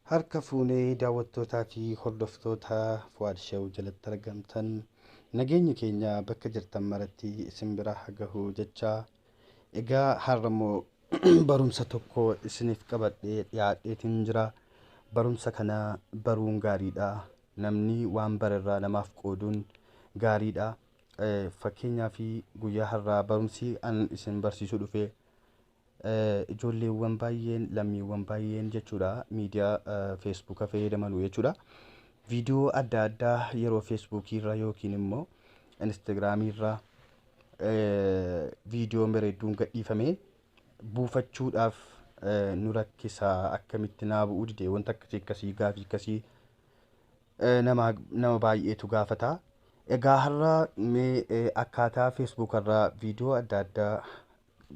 Harka fuunee daawwattootaa fi hordoftoota Fuwaad Shew jalatti argamtan nageenyi keenya bakka jirtan maratti isin bira haa gahu jechaa egaa har'a immoo barumsa tokko isiniif qabadhee dhiyaadheetiin jira. Barumsa kana baruun gaariidha. Namni waan barerraa namaaf qooduun gaariidha. Eh, Fakkeenyaaf guyyaa har'aa barumsi an isin barsiisuu dhufe Ijoolleewwan baay'een, lammiiwwan baay'een jechuudha miidiyaa feesbuuka fayyadamanu jechuudha. Viidiyoo adda addaa yeroo feesbuukii irra yookiin immoo instaagiraamii irra viidiyoo bareedduun gadhiifame buufachuudhaaf nu rakkisa akkamitti naa bu'uu dide wanta akkasii akkasii gaafii akkasii nama nama baay'eetu gaafata. Egaa har'a mee akkaataa feesbuuka irraa viidiyoo adda addaa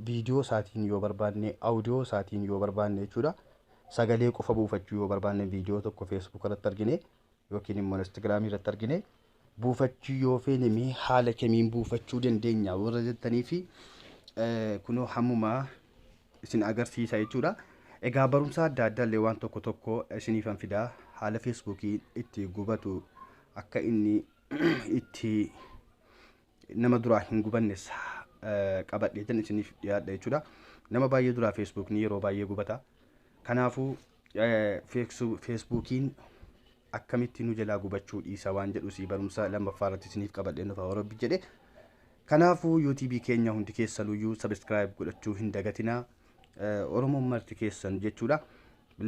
viidiyoo isaatiin yoo barbaanne, audio isaatiin yoo barbaanne jechuudha. Sagalee qofa buufachuu yoo barbaanne viidiyoo tokko Facebook irratti argine yookiin immoo Instagram irratti argine buufachuu yoo feene mee haala kamiin buufachuu dandeenya warra jettanii fi kunoo hammumaa isin agarsiisa jechuudha. Egaa barumsa adda addaa illee waan tokko tokko isiniifan fidaa haala feesbuukii itti gubatu akka inni itti nama duraa hin gubanne sa qabadheetan isiniif dhiyaadha jechuudha nama baay'ee duraa feesbuukni yeroo baay'ee gubata kanaafuu feesbuukiin akkamitti nu jalaa gubachuu dhiisa waan jedhu si barumsa lammaffaa irratti isiniif qabadhee nufa warabbi jedhe kanaafuu yuutuubii keenya hundi keessanuyyuu sabiskiraayib godhachuu hin dagatinaa oromoon marti keessan jechuudha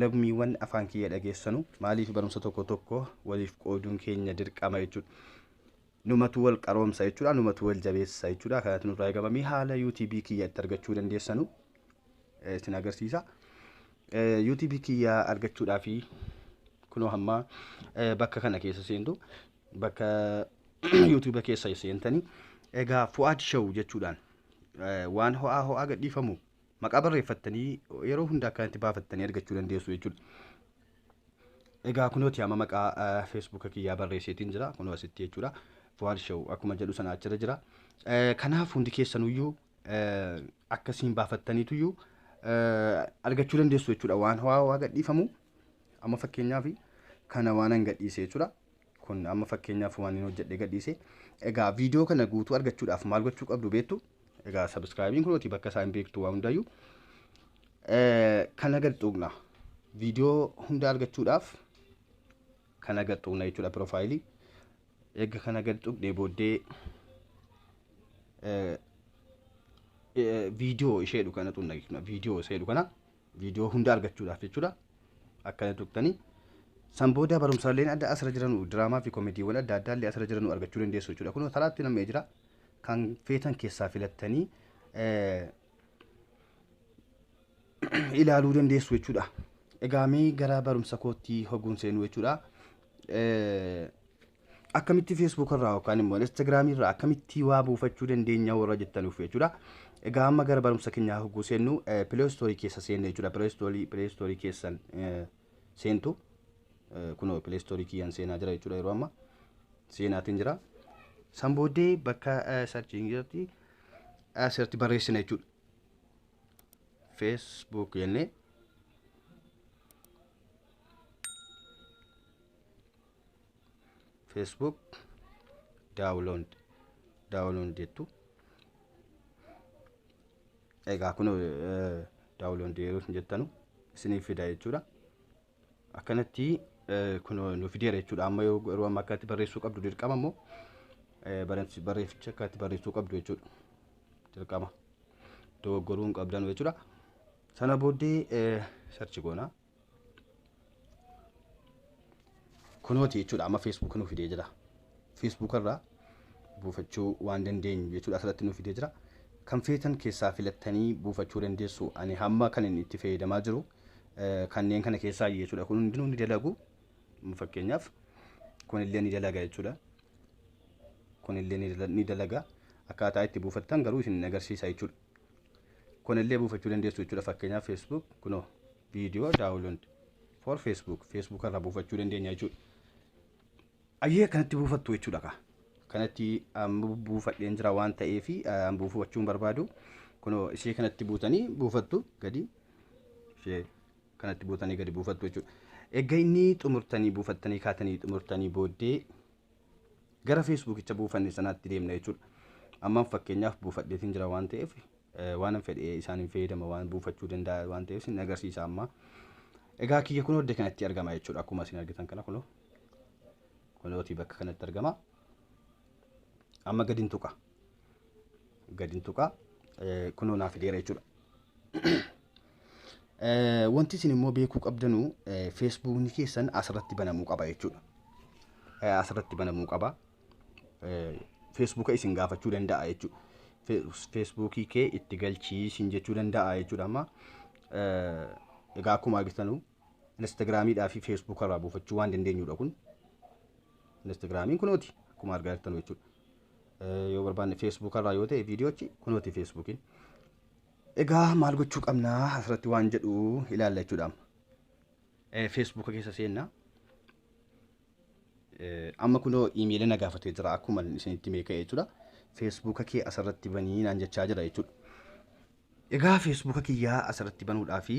lammiiwwan afaan kiyya dhageessanu maaliif barumsa tokko tokko waliif qooduun keenya dirqama jechuudha Numatu wal qaroomsa jechuudha. Numatu wal jabeessa jechuudha. Kanatu nurraa eegama. Mee haala UTB kiyya itti argachuu dandeessanu eh, isin agarsiisa. Eh, UTB kiyya argachuudhaa fi kunoo hamma eh, bakka kana keessa seentu bakka YouTube keessa seentanii egaa Fuad Show jechuudhaan eh, waan ho'aa ho'aa gadhiifamu Maqaa barreeffattanii yeroo hunda akkanatti baafattanii argachuu dandeessu jechuudha. Egaa kunooti amma maqaa eh, feesbuuka kiyyaa barreesseetiin jira kunoo asitti jechuudha. Fuwaad Show akkuma jedhu sana achirra jira. Eh, Kanaaf hundi keessanuyyuu eh, akkasiin baafattaniituyyuu eh, argachuu dandeessu jechuudha. Waan hawaa waa gadhiifamu amma fakkeenyaaf kana waanan gadhiise jechuudha. Kun amma fakkeenyaaf waan hin hojjedhe gadhiise. Egaa viidiyoo kana guutuu argachuudhaaf maal gochuu qabdu beektu? Egaa sabiskiraayibiin kunooti bakka isaa hin beektu waa hundayyuu. Kana gad tuqna. Viidiyoo hunda argachuudhaaf kana gad tuqna jechuudha piroofaayilii. Egaa kana gad tuqnee booddee viidiyoo ishee jedhu kana tuqna jechuudha. Viidiyoo ishee jedhu kana viidiyoo hunda argachuudhaaf jechuudha. Akkana tuqtanii. San booda barumsaaleen adda asirra jiranu diraamaa fi komeediiwwan adda addaa illee asirra jiranu argachuu dandeessu jechuudha. Kun karaatti nam'ee jira. kan feetan keessaa filattanii ilaaluu dandeessu jechuudha. Egaa mee gara barumsa kootti hoguun seenuu jechuudha. Akkamitti Facebook irraa yookaan immoo Instagram irraa akkamitti waa buufachuu dandeenya warra jettanuuf jechuudha. Egaa amma gara barumsa keenyaa hoguu seennu Play Store keessa seenna jechuudha. Play Store keessan seentu kunoo pileestoorii kiyyaan seenaa jira jechuudha yeroo amma seenaatiin jira. San booddee bakka sarchiin irratti asirratti barreessina jechuudha. Facebook jennee Facebook download download jettu. Egaa kun daawuloondii yeroo isin jettanu isiniif fida jechuudha. Akkanatti kun nu fideera jechuudha. Amma yoo garuu amma akkatti barreessuu qabdu dirqama immoo barreefficha akkatti barreessuu qabdu jechuudha. Dirqama dogoggoruu hin qabdanu jechuudha. Sana booddee sarchi goona. kunooti jechuudha amma facebook nu fidee jira facebook irraa buufachuu waan dandeenyu jechuudha asirratti nu fidee jira kan feetan keessaa filattanii buufachuu dandeessu ani hamma kan inni itti fayyadamaa jiru eh, kanneen kana keessaa jechuudha kun hundinuu ni dalagu fakkeenyaaf kun illee ni dalaga jechuudha kun illee ni dala- ni dalaga akkaataa itti buufattan garuu isin hin agarsiisa jechuudha kunillee buufachuu dandeessu jechuudha fakkeenyaaf facebook kunoo viidiyoo daawuloond for facebook facebook irraa buufachuu dandeenya jechuudha ayyee kanatti buufattu jechuudha kaa kanatti buufadheen jira waan ta'eef buufachuun barbaadu kunoo ishee kanatti buutanii buufattu gadi ishee kanatti buutanii gadi buufattu jechuudha. Egaa inni xumurtanii buufattanii kaatanii xumurtanii booddee gara feesbuukicha buufanne sanaatti deemna jechuudha. Ammaan fakkeenyaaf buufadheetiin jira waan ta'eef waanan fedhe isaaniin fayyadama waan buufachuu danda'a waan ta'eef isin agarsiisa ammaa. Egaa kiyya kun hojii kanatti argama jechuudha akkuma isin argitan kana kunoo. Kunooti bakka kanatti argama. Amma gadi hin tuqa. gadin tuqa kunoo naa fideera jechuudha. Wanti isin immoo beekuu qabdanu feesbuukni keessan asirratti banamuu qaba jechuudha. Asirratti banamuu qaba. Feesbuuka isin gaafachuu danda'a jechuudha. Feesbuukii kee itti galchii isin jechuu danda'a jechuudha amma. Egaa akkuma argitanu Instagiraamiidhaa fi Feesbuuka irraa buufachuu waan dandeenyudha kun. Instagiraamiin kunooti akkuma argaa jirtanu jechuudha. yoo barbaanne feesbuuka irraa yoo ta'e viidiyoochi kunooti feesbuukiin. Egaa maal gochuu qabnaa asirratti waan jedhu ilaalla jechuudha. Feesbuuka keessa seennaa. Amma kunoo iimeelii na gaafatee jira akkuma isinitti meeqa jechuudha. Feesbuuka kee asirratti banii naan jechaa jira jechuudha. Egaa feesbuuka kiyyaa asirratti banuudhaa fi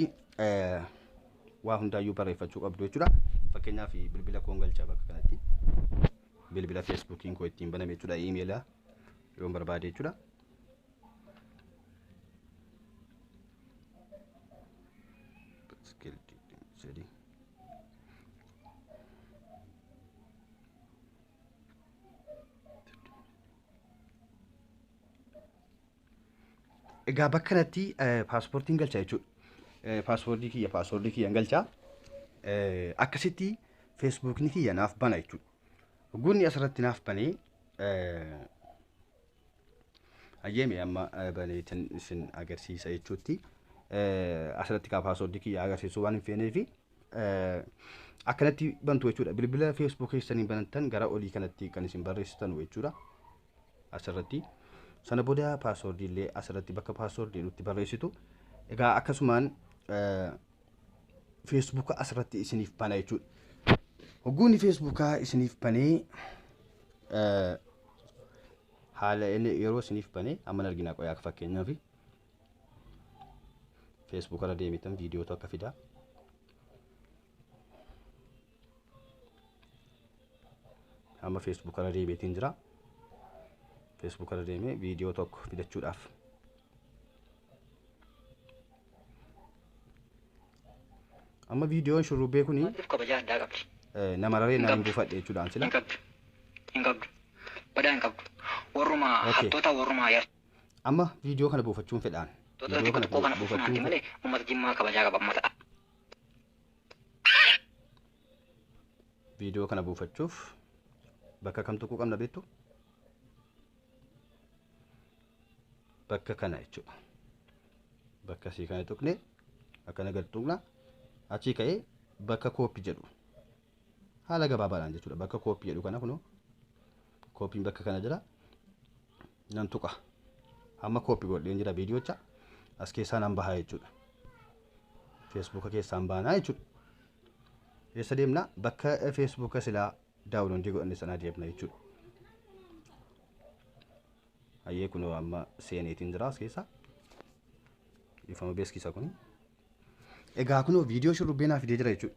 waa hundaayyuu barreeffachuu qabdu jechuudha. Fakkeenyaaf bilbila koon galcha bakka kanatti. Bilbila feesbuukiin koo ittiin baname jechuudha. Iimeela yoon barbaade jechuudha. Egaa bakka kanatti paaspoortiin galchaa jechuudha. Paaspoortii kiyya paaspoortii kiyyan galchaa akkasitti feesbuukni kiyya naaf bana jechuudha. Gunni asirratti naaf banee ayyeeme amma baneetin isin agarsiisa jechuutti asirratti kaa paaspoortii kiyya agarsiisuu waan hin feeneefi eh, akkanatti bantu jechuudha bilbila feesbuuk keessanii banattan gara olii kanatti kan isin barreessitan jechuudha asirratti sana booda paaswoordii illee asirratti bakka paaswoordii jedhutti barreessitu egaa akkasumaan eh, feesbuuka asirratti isiniif bana jechuudha hogguunni feesbuukaa isiniif banee eh, haala inni yeroo isiniif banee amma hin argina qoyaa akka fakkeenyaaf Facebook irra deemitan viidiyootu akka fida. Amma Facebook irra deemeetiin jira. Facebook irra deemee viidiyoo tokko fidachuudhaaf. Amma viidiyoon shurrubbee kuni Maatiif kabaja addaa qabdi. eh, nama raree nama hin buufadhe jechuudhaan sila. Hin qabdu. Hin qabdu. Badaa hin qabdu. Warruma Okay. hattoota warruma yartuu. Amma viidiyoo kana buufachuun fedhaan. Tootala Viidiyoo tiktok kana koo kana fufuun buufachuun hanti fedha. malee ummata jimmaa kabajaa qaba ummata. Viidiyoo kana buufachuuf bakka kam tuquu qabna beektu? Bakka kana jechuudha. Bakka sii kana tuqne akkana gad tuqna achii ka'ee bakka kooppi jedhu haala gabaabaadhaan jechuudha. Bakka kooppi jedhu kana kunoo kooppiin bakka kana jira. nan tuqa amma kooppi godheen jira viidiyocha as keessaa nan bahaa jechuudha feesbuuka keessaan baanaa jechuudha eessa deemna bakka feesbuuka silaa daawunloodii godhanne sanaa deemna jechuudha ayyee kunoo amma seeneetiin jira as keessaa ifama beeksisa kuni Egaa kunoo viidiyoo shurrubbee naa fidee jira jechuudha.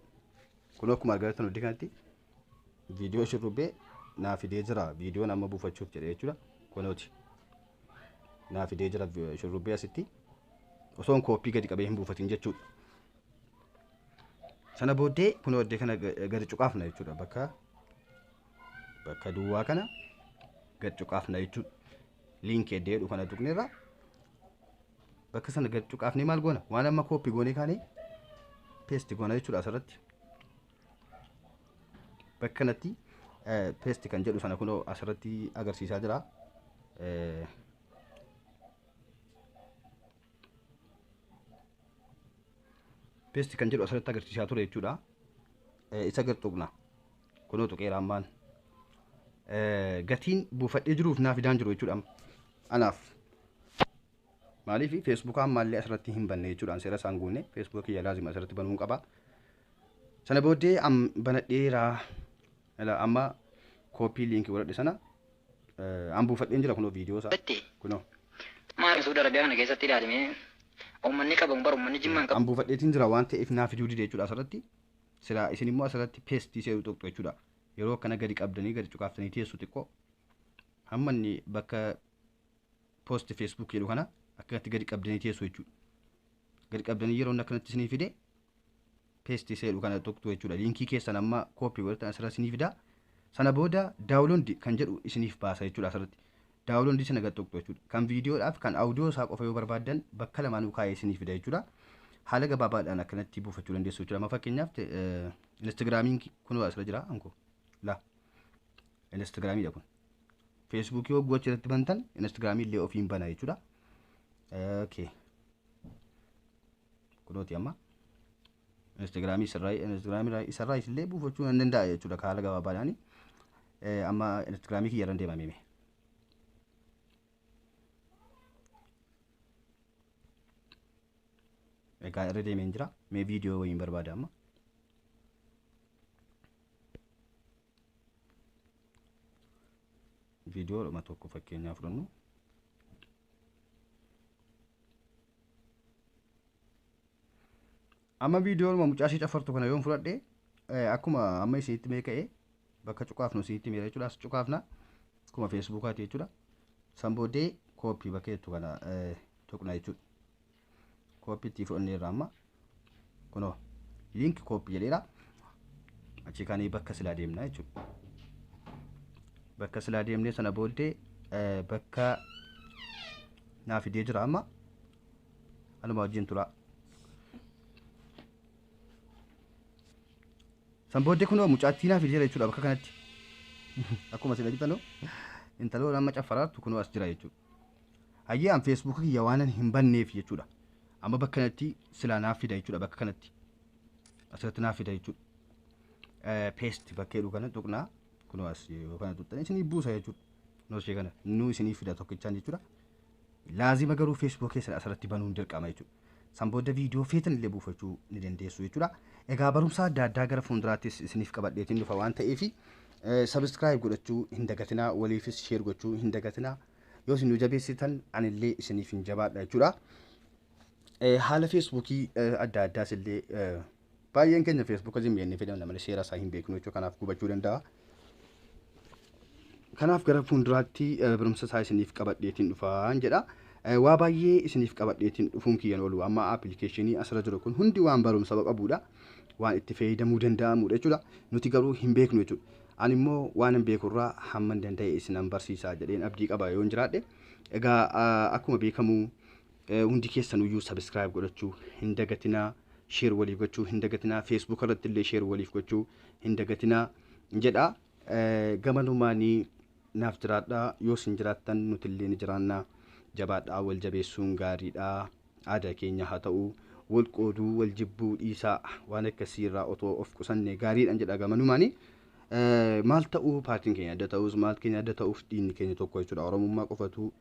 Kunoo akkuma argaa jirtan hundi kanatti viidiyoo shurrubbee naa fidee jira. Viidiyoon amma buufachuuf jedhe jechuudha. Kunooti. Naa fidee jira vi- shurrubbee asitti. Osoon kooppii gadi qabee hin buufatin jechuudha. Sana booddee kunoo iddoo kana ga- gadi cuqaafna jechuudha. Bakka bakka duwwaa kana gadi cuqaafna jechuudha. Liinkii iddoo jedhu kana tuqneerra. bakka sana gad cuqaafnee maal goona waan amma kooppi goonee kaanee peesti goona jechuudha asirratti bakka kanatti peesti kan jedhu sana kunoo asirratti agarsiisaa jira peesti kan jedhu asirratti agarsiisaa ture jechuudha isa gad tuqna kunoo tuqeera ammaan gatiin buufadhee jiruuf naaf idaan jiru jechuudha anaaf Maaliif feesbuukaa ammaallee asirratti hin banne jechuudhaan seera isaan guunne feesbuuka kiyya laazima asirratti banuun qaba. Sana booddee am banadheera ila amma kooppii liinkii godhadhe sana eh, an buufadheen jira kunoo viidiyoo isaa Batti. kunoo Maal suuda Arabiyaa kana keessatti ilaalimee uummanni qabamu bara uummanni jimmaan qabu. an buufadheetiin jira waan ta'eef naa fiduu dide jechuudha asirratti silaa isin immoo asirratti peestii seeruu tuqxu jechuudha yeroo akkana gadi qabdanii gadi cuqaaftanii teessu xiqqoo hamma inni bakka post facebook jedhu kana akkanatti gadi qabdanii teessu jechuudha gadi qabdanii yeroo inni akkanatti isinii fide paste isa jedhu kana tuqxu jechuudha liinkii keessan amma copy godhatan asirra isinii fida sana booda download kan jedhu isiniif baasa jechuudha asirratti download sana gad tuqxu jechuudha kan viidiyoodhaaf kan audio isaa qofa yoo barbaaddan bakka lamaanuu kaa'ee isinii fida jechuudha haala gabaabaadhaan akkanatti buufachuu dandeessu jechuudha amma fakkeenyaaf te- eh, instagraamiin kunoo asirra jira anko la instagraamiidha kun Feesbuukii hogguu achirratti bantan Instagiraamii illee ofiin bana jechuudha. Okay. Kunooti amma. Instagiraamii isarraa Instagiraamii isarraa isillee buufachuu nan danda'a jechuudha haala gabaabaadhaani. Amma Instagiraamii kiyyarran deema mimi. Egaa irra deemeen jira. Mee viidiyoo wayiin barbaada amma. viidiyoodhuma tokko fakkeenyaa fudhannu amma viidiyoodhuma mucaa ishee cafartu kana yoon fudhadhe akkuma amma isinitti mee ka'e bakka cuqaafnu isinitti meera jechuudha as cuqaafna akkuma feesbuukaati jechuudha san booddee kooppii bakka jettu kana tuqna jechuudha kooppi itti fudhannee irraa amma kunoo liinki kooppi jedheera achi kaanii bakka silaa deemna jechuudha bakka silaa deemnee sana booddee bakka naa fidee jira amma anuma wajjin tura san booddee kunoo mucaattii naa fidee jira jechuudha bakka kanatti akkuma sila bitanu intaloon amma caffaraartu kunoo as jira jechuudha Hayyee an Facebook kiyya waanan hin banneef jechuudha. Amma bakka kanatti silaa naaf fida jechuudha bakka kanatti. Asirratti naaf fida jechuudha. Paste bakka jedhu kana tuqnaa kunoo as yoo kana tuqxan isinii buusa jechuudha. Noo ishee kana nuu isinii fida tokkichaan jechuudha. Laazima garuu Facebook keessan asirratti banuun dirqama jechuudha. San booda viidiyoo feetan illee buufachuu ni dandeessu jechuudha. Egaa barumsa adda addaa gara fuulduraattis isiniif qabadheetiin dhufa waan ta'eef sabiskiraayib godhachuu hin dagatinaa waliifis sheer gochuu hin dagatinaa yoo isin nu jabeessitan anillee isiniif hin jabaadha jechuudha. Haala feesbuukii adda addaas illee Baay'een keenya Facebook ajin beeknee fayyadamna malee seera isaa hin beeknu jechuudha kanaaf gubachuu danda'a. Kanaaf gara fuulduraatti eh, barumsa isaa isiniif qabadheetiin dhufaan jedha. Eh, Waa baay'ee isiniif qabadheetiin dhufuun kiyyan oolu amma appilikeeshinii asirra jiru kun hundi waan barumsa qabudha. Waan itti fayyadamuu danda'amudha jechuudha. Nuti garuu hin beeknu jechuudha. Ani immoo waan hin beekurraa hamman danda'e isinan barsiisaa jedheen abdii qaba yoon jiraadhe. Egaa ah, akkuma beekamu Hundi keessan iyyuu subscribe godhachuu hin dagatinaa share waliif gochuu hin dagatinaa Facebook irratti illee share waliif gochuu hin dagatinaa jedha gamanumaanii naaf jiraadha yoo sin jiraattan nuti illee ni jiraanna jabaadhaa wal jabeessuun gaariidha aadaa keenya haa ta'u wal qooduu wal jibbuu dhiisaa waan akkasii irraa otoo of qusanne gaariidhaan jedha gamanumaanii maal ta'uu paartiin keenya adda ta'us maal keenya adda ta'uuf dhiinni keenya tokko jechuudha oromummaa qofatu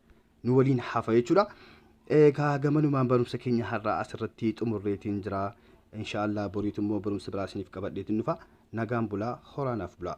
nu waliin hafa jechuudha. Egaa gamanumaan barumsa keenya har'aa asirratti xumurreetiin jira. Inshaallah boriitu immoo barumsa biraa isiniif qabadheetiin dhufa. Nagaan bulaa horaanaaf bulaa.